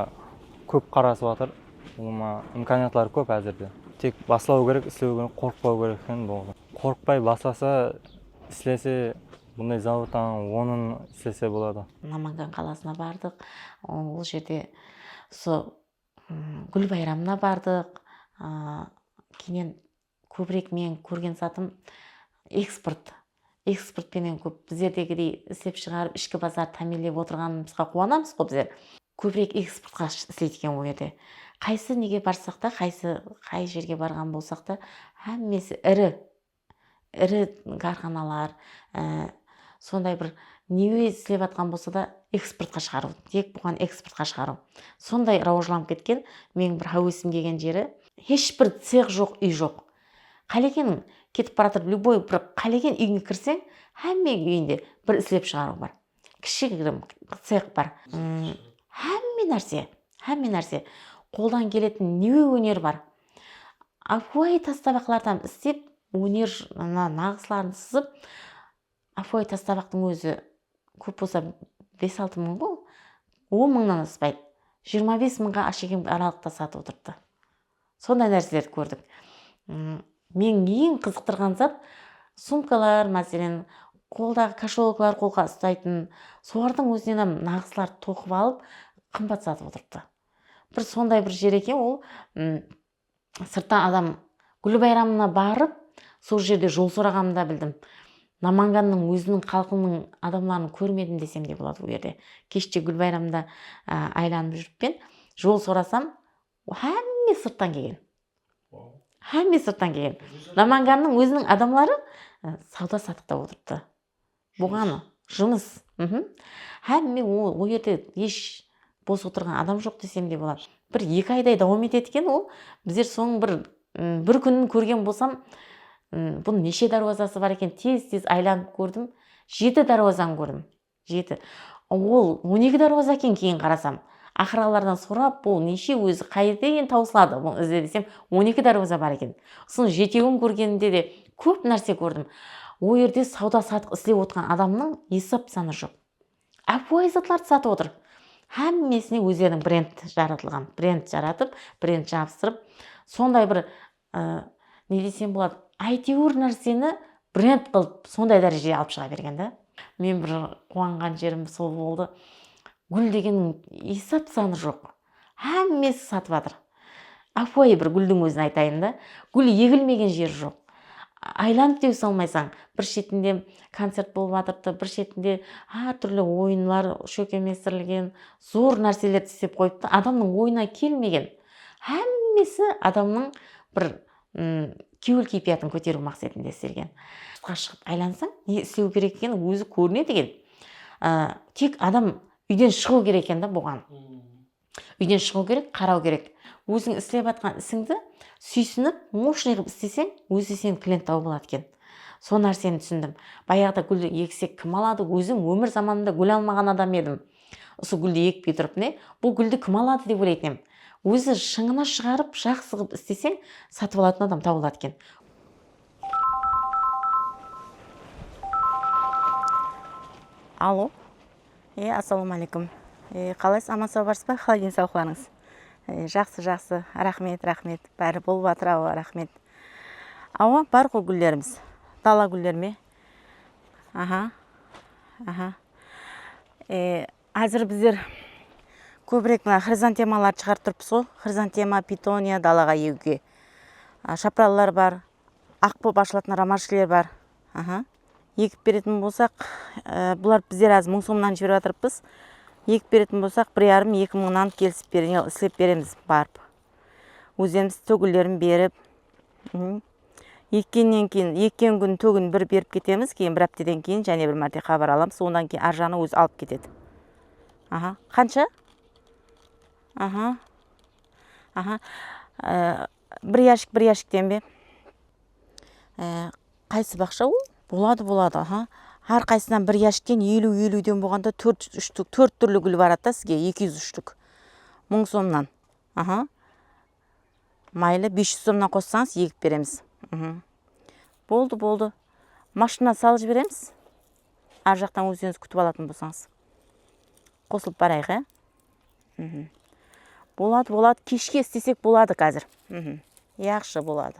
kóp qarasıp atır ulıwma imkaniyatları kóp xazirde tek baslaw kerek islew kerek qorqıpau kerek eken bolǵan qorqıpay baslasa islese bunday zavodtan onın islese boladı. Namangan qalasına bardıq ol jerde usı gúl bayramına bardıq keinen Kóbirek meniń kórgen zatım eksport. Eksport penen kóp bizlerdegidey islep shıǵarıp ishki bazar támiyinlep otırǵanımızǵa quwanamızǵo bizler. Kóbirek eksportqa isleydi eken ol jerde. Qaysı nege barsaq ta, qaysı qay jerge barǵan bolsaq ta, hámmesi iri, iri kárxanalar, sonday bir neme islep atqan bolsa da eksportqa shıǵarıw, tek buǵan eksportqa shıǵarıw. Sonday rawajlanıp ketken, meniń bir háwesim kelgen jeri, Hesh bir cex joq úy joq. Qálekeniń ketip baratır lyuboy bir qálegen úyińe kirseń hámme úyinde bir islep shıǵarıw bar. Kishigirim cex bar. Hámme nárse hámme nárse qoldan keletin newe óner bar. Ápiwayı tas tabaqlardan islep óner naǵısların sızıp. Afoy tastabaqtıń ózi kóp bolsa bes-altı mıń ǵo, on mıńnan aspaydı. Jigirma bes mıńǵa ashekemge aralıqta satıp otırıptı. Sonday nárselerdi kórdik. Meń eń qızıqtırǵan zat, sumkalar, máselen, qoldaǵı kasholoklar qolǵa ustaytın, solardıń ózinenam naǵıslar toqıp alıp, qımbat satıp otırıptı. Bir sonday bir jer eken ol, Sırttan adam Gúli bayramına barıp, sol jerde jol soraǵanımda bildim. Namangannıń óziniń xalqınıń adamların kórmedim desem de boladı bul jerde. Keshte Gúl bayramında aylanıp júrippen, jol sorasam, hámme sırttan kelgen. Hámme sırttan kelgen. Namangannıń óziniń adamları sawda-satıqta otırıptı. Buǵan jumıs hámme ol yerde hesh bos otırǵan adam joq desem de boladı bir eki ayday dawam etedi eken ol bizler sonıń bir bir kúnin kórgen bolsam bunıń neshe dárwazası bar eken tez tez aylanıp kórdim jeti dárwazan kórdim jeti ol on eki dárwaza eken keyin qarasam aqıralardan sorap bul neshe ózi qáyerden tawısıladı bunıń izi desem on eki dárwaza bar eken usınıń jeteuin kórgenimde de Kóp nárse kórdim. O yerde sawda-satıq islep otırǵan adamnıń esap-sanı joq. Ápiwayı zatlardı satıp otır. Hámmesine ózleriniń brend jaratılǵan, brend jaratıp, brend jabıstırıp, sonday bir, ne desem boladı, áyteuir nárseni brend qılıp, sonday dárejege alıp shıǵa bergen dá. Men bir quwanǵan jerim sol boldı. Gúl degenniń esap-sanı joq. Hámmesi satıp atır. Ápiwayı bir gúldiń ózin aytayın da, gúl egilmegen jeri joq. Aylanıp dew salmaysań, bir shetinde koncert bolıp atırdı, bir shetinde hár túrli oyınlar shólkemlestirilgen, zor nárselerdi islep qoyıptı, adamnıń oyına kelmegen. Hámmesi adamnıń bir kewil-keypiyatın kóteriw maqsetinde istelgen. Sırtqa shıǵıp aylansań, ne islew kerek ekeni ózi kórinedi eken. Tek adam Úyden shıǵıw kerek eken da buǵan. Úyden shıǵıw kerek, qaraw kerek. Óziń islep atqan isińdi súysinip, moshniy qılıp isleseń, ózi seniń klienttaǵı boladı eken. Sol nárseni túsindim. Bayaǵıda gúldi eksek kim aladı, ózim ómir zamanımda gúl almaǵan adam edim. Usı gúldi ekpey turıp ne, bul gúldi kim aladı dep oylaytın em. Ózi shıńına shıǵarıp, jaqsı qılıp isleseń, satıp alатын adam tabıladı eken. Allo e assalawma aleykum e qalaysız aman sawı barsız ba qalay den sawlıqlarıńız e jaqsı jaqsı raxmet raxmet bári bolıp atır awa raxmet awa bar ǵoy gúllerimiz dala gúller me aha aha e Házir bizler kóbirek mına xrizantemalardı shıǵarıp turıpız ǵo, xrizantema, pitoniya dalaǵa egiwge. Shapralılar bar, aq bolıp ashılatın romashkaler bar. Egip beretin bolsaq, bulardı bizler házir mıń somnan jiberip atırıpız. Egip beretin bolsaq, bir yarım, eki mıńnan kelisip islep beremiz barıp. Ózemiz tógilerin berip ekkennen keyin ekken kún tógin bir berip ketemiz keyin bir ápteden keyin jáne bir márte xabar alamız onnan keyin ar jaǵınan ózi alıp ketedi aha qansha aha aha bir yashik bir yashikten be qaysı baqsha ol boladı boladı aha ar qaysınan bir yashikten eliw eliwden bolǵanda tórt túrli gúl baradı da sizge eki júz úshlik mıń somnan mayli bes juz somnan qossańız egip beremiz boldı boldı mashina salıp jiberemiz ar jaqtan ózińiz kútip alatuǵın bolsańız qosılıp barayıq e boladı boladı keshke istesek boladı kazir yaxshı boladı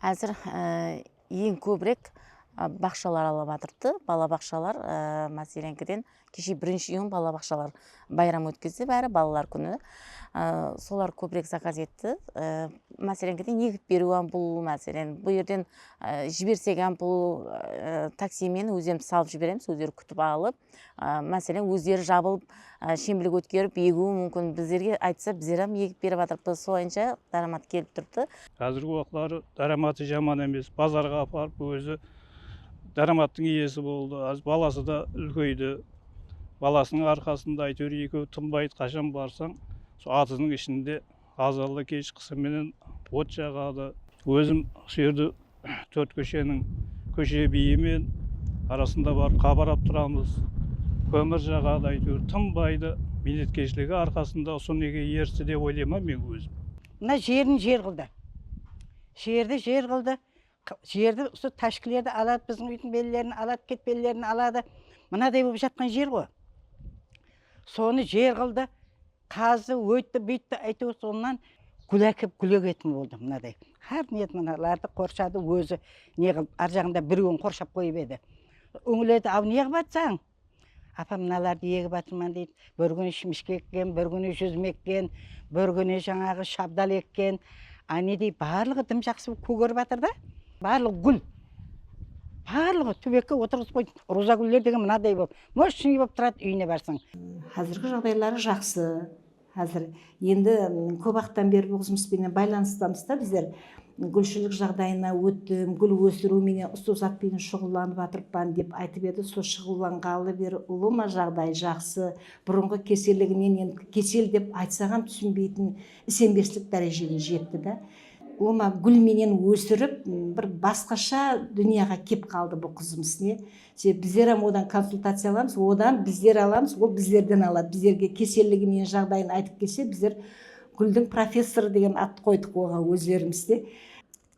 Házir eń kóbirek baqshalar alıp atırdı, balabaqshalar, máselenkiden, keshe birinshi iyun balabaqshalar. Bayram ótkizdi bári balalar kúni solar kóbirek zakaz etti máselen geden egip beriu ham bul máselen bul erden jibersek ham bul taksimen ózem salıp jiberemiz ózleri kútip alıp máselen ózleri jabılıp shembilik ótkerip egiui múmkin bizlerge aytsa bizler ham egip berip atırıpız solayınsha dáramat kelip turıptı. Házirgi uaqıtları dáramatı jaman emes bazarǵa aparıp ózi dáramattıń iyesi boldı házir balası da úlkeydi. balasınıń arqasında áyteuir ekeui tınbaydı qashan barsań sol atızdıń ishinde azanda kesh qısı menen ot jaǵadı ózim usı jerde tórt kósheniń kóshe biyi men arasında barıp qabarap turamız kómir jaǵadı áyteuir tınbaydı miynetkeshligi arqasında usı nege eristi dep oylayman men ózim. Mına jerin jer qıldı usı jerdi jer qıldı Jerdi usı tashkilerdi aladı biziń uydiń bellerin aladı ket bellerin aladı mınaday bolıp jatkan jer goi sonı jer kıldı kazdı oyttı buyttı ayteuir sonnan gul akep gul egetin boldı mınaday xar niyet mınalardı korshadı ozi ne kılıp arjagında bireuin korshap koyıp edi uńledi au ne kıp atsań Apam mınalardı egip atırman deydi, bir kúni shimishke ekken, bir kúni júzim ekken, bir kúni jańaǵı shabdal ekken, ánedey barlıǵı dım jaqsı bolıp kógerip atır da, barlıǵı gúl, barlıǵı túbekke otırǵızıp qoydı, ruwza gúlleri degen mınaday bolıp, moshniy bolıp turadı, úyine barsań. Házirgi jaǵdayları jaqsı. Házir endi kóp waqıttan beri bul jumıs penen baylanıstamız da bizler. Gúlshilik jaǵdayına óttim, gúl óstiriw menen usı zat penen shuǵıllanıp atırıppan, dep aytıp edi sol shuǵıllanǵalı beri ulıma jaǵdayı jaqsı, burınǵı keselliginen endi kesel dep aytsaǵam túsinbeytin isenbeslik dárejene jetti da. Ulıma gúl menen ósirip bir basqasha dúnyaǵa kep qaldı bul qızımız ne. Sep, bizler hám odan konsultaciya alamız, odan bizler alamız, ol bizlerden aladı. Bizlerge keselligi menen jaǵdayın aytıp kelse, bizler Gúldiń professorı degen attı qoydıq oǵan ózlerimiz de.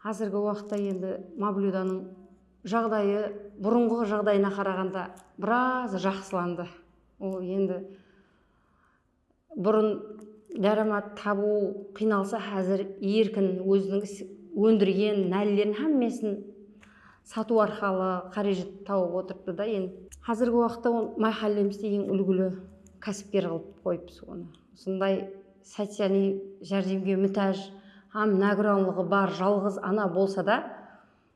Házirgi waqıtta endi Mavlyudanıń jaǵdayı burınǵı jaǵdayına qaraǵanda biraz jaqsılandı. Ol endi Burın dáramat tabıw qıynalsa házir erkin óziniń is óndirgen nálilerin hámmesin satıw arqalı qárejit tawıp otırıptı da en. Házirgi waqıtta on máhállemizde eń úlgili kásipker qılıp qoyıpız onı. Usınday socialiy járdemge mútáj hám nágúranlıǵı bar jalǵız ana bolsa da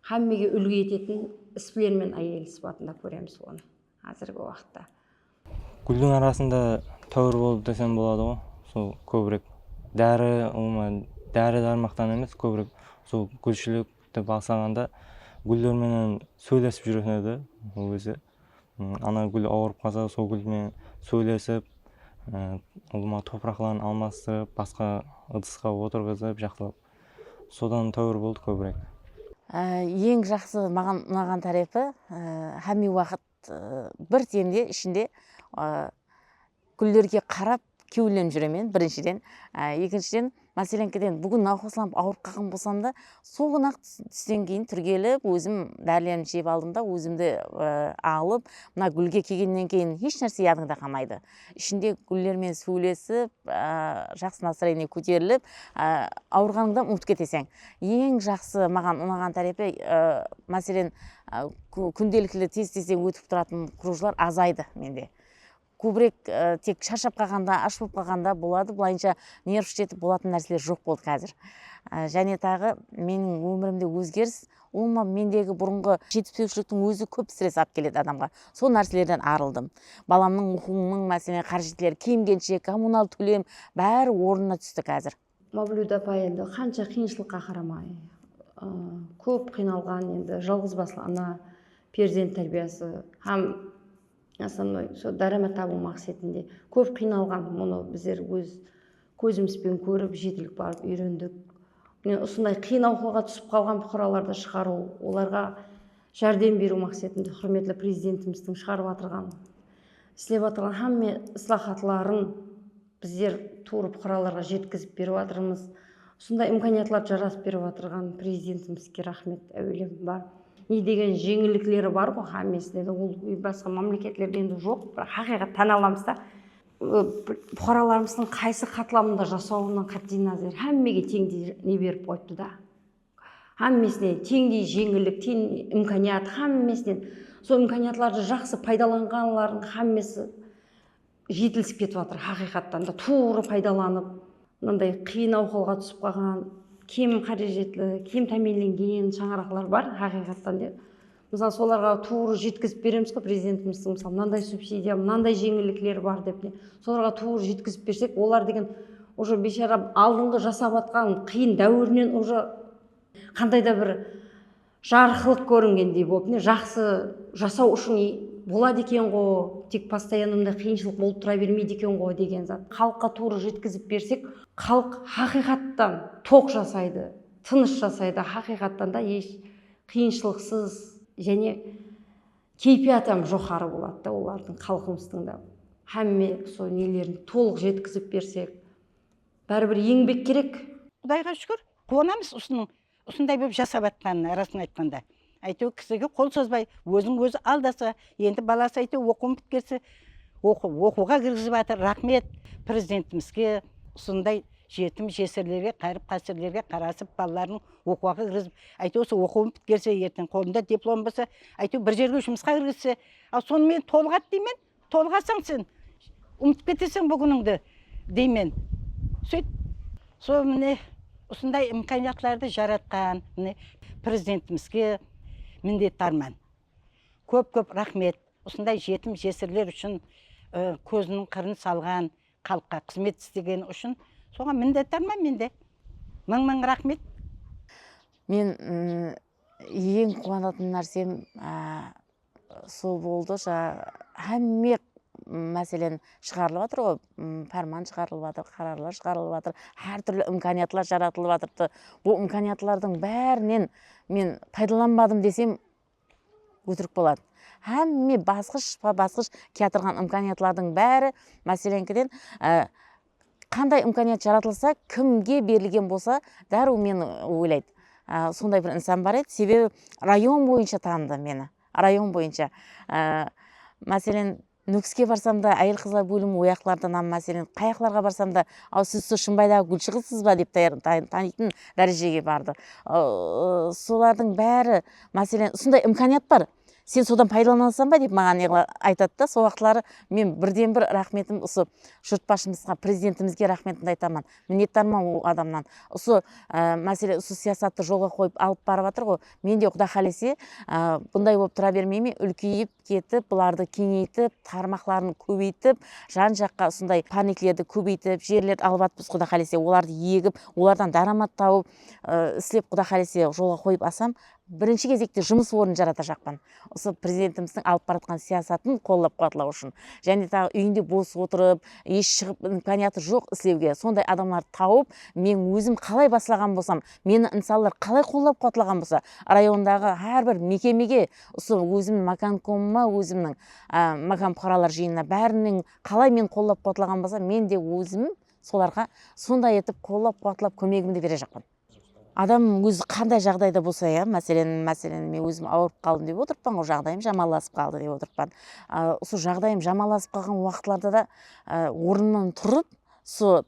hámmege úlgi etetin isbilermen áyel sıpatında kóremiz onı házirgi waqıtta. Gúldiń arasında táwir bolıp desem boladıǵo sol kóbirek dári umuman dári darmaqtan emes kóbirek sol gúlshilik dep ańsaǵanda gúller menen sóylesip júreten edi ol keze ana gúl awırıp qalsa sol gúl menen sóylesip ulıwma topıraqların almastırıp basqa ıdısqa otırǵızıp jaqsılap sodan táwir boldı kóbirek. Eń jaqsı maǵan unaǵan tárepi hámiywaqıt bir demde ishinde gúllerge qarap kewillenip júremen birinshiden ekinshiden máselenkedен búgin nawqaslanıp awırıp qalǵan bolsamda sol kúni aq tústen keyin túrgelip ózim dárilerimdi jep aldım da ózimdi alıp mına gúlge kelgennen keyin esh nárse yadında qalmaydı Ishinde gúller menen súwlesip, jaqsı nastrayenie kóterilip, awırǵanıńda umıtıp keteseń. Eń jaqsı maǵan unaǵan tárepi, máselen, kúndelikli tez-tezden ótip turatuın krujlar azaydı mende. Kóbirek tek sharshap qalǵanda, ash bolıp qalǵanda boladı, bılayınsha nerv shetetip bolatuın nárseler joq boldı xázir. Jáne taǵı meniń ómirimde ózgeris, Umuman mendegi burınǵı jetispewshiliktiń ózi kóp stress alıp keledi adamǵa. Sol nárselerden arıldım. Balamnıń oqıwınıń, máselen, qarjıtleri, kiyim-kenshek, kommunal tólem, bári ornına tústi kázir. Mavlud apa endi qansha qıyınshılıqqa qaramay, kóp qıynalǵan endi jalǵızbaslı ana, perzent tárbiyası hám. Osnovnoy sol dáramat tabıw maqsetinde kóp qıynalǵan bunı bizler óz kózimizben kórip jetilik barıp úyrendik. Mine usınday qıyın awqalǵa túsip qalǵan puqaralardı shıǵarıw olarǵa járdem beriw maqsetinde húrmetli Prezidentimizdiń shıǵarıp atırǵan islep atırǵan hámme islahatların Bizler tuwrı puqaralarǵa jetkizip berip atırmız. Usınday imkaniyatlardı jaratıp berip atırǵan Prezidentimizge raxmet áwelem bar. Ne degen jeńillikleri barǵo xámmesinde de ol basqa mámleketlerde endi joq biraq haqıyqat tán alamız da puqaralarımızdıń qaysı qatlamında jasawına qáttey názar xámmege teńdey ne berip qoyıptı da xámmesine teńdey jeńillik ten imkaniyat xámmesinen sol imkaniyatlardı jaqsı paydalanǵanlardıń xámmesi jetilisip ketip atır haqıyqattan da tuwrı paydalanıp mınanday qıyın awhalǵa túsip qalǵan kem qárejetli kem támiyinlengen shańaraqlar bar haqıyqattan de mısalı solarǵa tuwrı jetkizip beremiz ǵoy prezidentimizdiń mısalı mınanday subsidiya mınanday jeńillikler bar dep ne solarǵa tuwrı jetkizip bersek olar degen уже biyshara aldınǵı jasap atqan qıyın dáwirinen уже qanday da bir Jarıqlıq kóringendey bolıp mine jaqsı jasaw ushın iy boladı ekenǵo, tek postoyanno mınday qıyınshılıq bolıp tura bermeydi ekenǵo degen zat xalıqqa tuwrı jetkizip bersek xalıq haqıyqattan toq jasaydı, tınısh jasaydı, haqıyqattan da esh qıyınshılıqsız jáne keypiyatı ham joqarı boladı da olardıń xalqımızdıń da hámme usı nelerin tolıq jetkizip bersek báribir eńbek kerek. Qudayǵa shúkir, quwanamız usınıń Usınday bolıp jasap atqanına rasın aytqanda áyteuir kisige qol sozbay ózin ózi aldasa endi balası áyteuir oqıuın pitkerse oqıuǵa kirgizip atır raxmet prezidentimizge usınday jetim jesirlerge qayırıp qasirlerge qarasıp balaların oqıuaǵa kirgizip áyteuir usı oqıuın pitkerse erteń qolında diplomı bolsa áyteuir bir jerge jumısqa kirgizse al sonımenentolıq at deymen. Tolǵasań sen, umıtıp keteseń búginińdi, deymen. Sóyt. Sol mine usınday imkaniyatlardı jaratqan mine Prezidentimizge minnetdarman. Kóp-kóp raxmet. Usınday jetim-jesirler ushın kóziniń qırın salǵan, xalıqqa xızmet istegeni ushın soǵan minnetdarman men de. Mıń-mıń raxmet. Men eń quwanatın nársem Sol boldı jańa hámme máselen shıǵarılıp atır ǵoy párman shıǵarılıp atır qararlar shıǵarılıp atır hár túrli imkaniyatlar jaratılıp atırdı bul imkaniyatlardıń bárinen men paydalanbadım desem ótirik boladı hámme basqısh basqısh kiyatırǵan imkaniyatlardıń bári máseleńkiden Qanday imkaniyat jaratılsa kimge berilgen bolsa darıw meni oylaydı sonday bir insan bar edi sebebi rayon boyınsha tanıdı meni rayon boyınsha maselen nukiske barsamda ayel qızlar bólimi oyaqlardan am maselen qayaqlarǵa barsamda ao siz so shımbaydaǵı gúlshı qızsızba dep tanıytın dárejege bardı solardıń bári maselen usınday imkaniyat bar Sen sodan paydalanasın ba dep maǵan aytadı da sol uaqıtları men birden bir raxmetim usı jurtbashımızga prezidentimizge raxmetimdi aytaman minnetdarman ol adamnan usı másele usı siyasattı jolǵa qoyıp alıp barıp atır ǵoy men de quday qalese bunday bolıp tura bermeyme ulkeyip ketip bulardı keńeytip tarmaqların kóbeytip jan jaqqa usınday párneklerdi kóbeytip jerlerdi alıp atpız quday qalese olardı egip olardan dáramat tauıp islep quday qalese jolǵa qoyıp asam birinshi gezekte jumıs ornın jaratajaqpan. Usı Prezidentimizdiń alıp baratqan siyasatın qollap-quwatlaw ushın, jáne taǵı úyinde bos otırıp, esh shıǵıp imkaniyatı joq islewge sonday adamlardı tawıp, men ózim qalay baslaǵan bolsam, meni insanlar qalay qollap-quwatlaǵan bolsa, rayondaǵı hár bir mekemege, usı ózimniń makankomıma, ózimniń makan puqaralar jıyınına bárinen qalay meni qollap-quwatlaǵan bolsa, men de ózim solarǵa sonday etip qollap-quwatlap kómegimdi berejaqpan. Adam ózi qanday jaǵdayda bolsa ya, máselen, máselen, men ózim awırıp qaldım dep otırıppan ǵoy, jaǵdayım jamanlasıp qaldı dep otırıppan. Usı jaǵdayım jamanlasıp qalǵan waqıtlarda da ornımnan turıp usı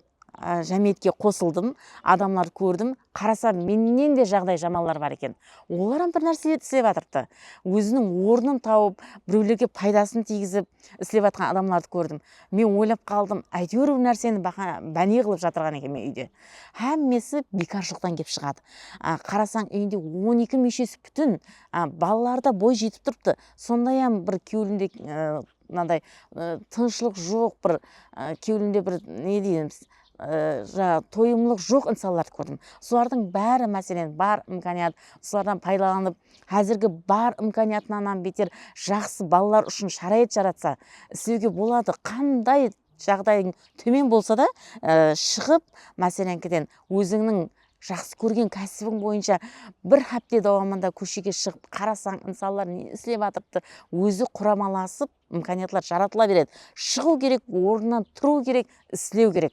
jámiyetke qosıldım, adamlardı kórdim, qarasam mennen de jaǵdayı jamanlar bar eken. Olar ham bir nárselerdi islep atırıptı. Óziniń ornın tawıp, birewlerge paydasın tiygizip islep atırǵan adamlardı kórdim. Men oylap qaldım, áytewir bir nárseni báne qılıp jatırǵan ekenmen úyde. Hámmesi biykarshılıqtan kep shıǵadı. Qarasań úyinde on eki múshesi pútin, balaları da boy jetip turıptı, sondayam bir kewlinde mınaday tınıshlıq joq, bir kewlinde bir ne deymiz, Jańa toyımlıq joq insanlardı kórdim. Solardıń bári máselen bar imkaniyat solardan paydalanıp házirgi bar imkaniyatınanam beter jaqsı balalar ushın sharayat jaratsa islewge boladı qanday jaǵdayıń tómen bolsada shıǵıp másereńkiden ózińniń jaqsı kórgen kásibin boyınsha bir hápte dawamında kóshege shıǵıp qarasań insanlar ne islep atırıptı ózi quramalasıp Imkaniyatlar jaratıla beredi. Shıǵıw kerek, ornınan turıw kerek, islew kerek.